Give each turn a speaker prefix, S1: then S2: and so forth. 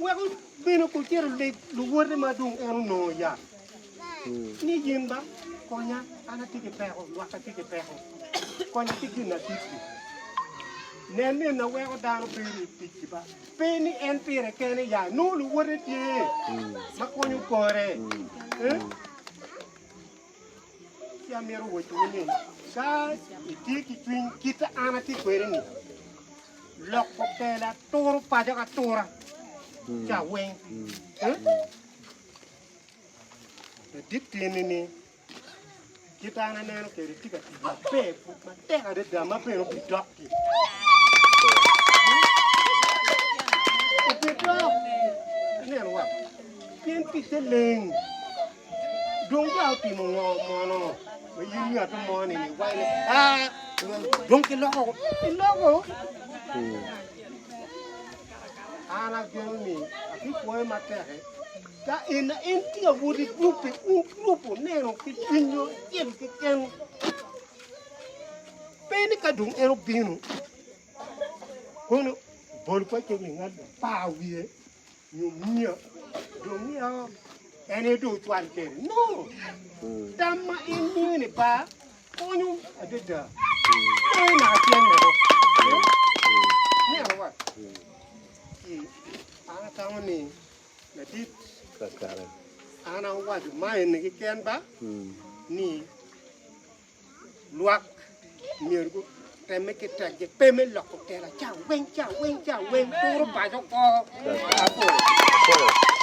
S1: Wek obino kun cito oleg luwote ma dong en onongo ya, ni in ba konya, an atye ki peko, lwakka tye ki peko, konya ki gin atit-ti. Nen ni na weko dano bedo i ticci ba, pe ni en pire kene ya, nongo luwote tye ma konyo kore. Eh? Ci amito wacciwu ni, ka itye ki cwiny kite an atye kwede-ni, loko kela turo paco ka tura ca weng. Ladit tyeni ni, kite an aneno kede tye ka tic maber pud matek adada ma bene obidok-ki. Obidok, ineno wa, pien ticce leng, Dong ka otimo ngo mono ma in ngat mo ni ni wai ni a dong ki loko ki loko an ageno ni ki kwoye ma tek ka in na in ti a wodi grup ki un grup oneno ki cwiny yo acel ki ken pe ni ka dong en obino kono bol pa ceng ni ngat pa wiye nyo miya dong miya o en aye dong ocwal kede no tam ma en miyo ni ba konyo adada moye naka tyen meko neno wa ki an atamo ni ladit an awaco ma eni keken ba ni Lwak myero gutemme ki tekgi pe me loko kela ca weng ca weng ca weng turo paco kor labol.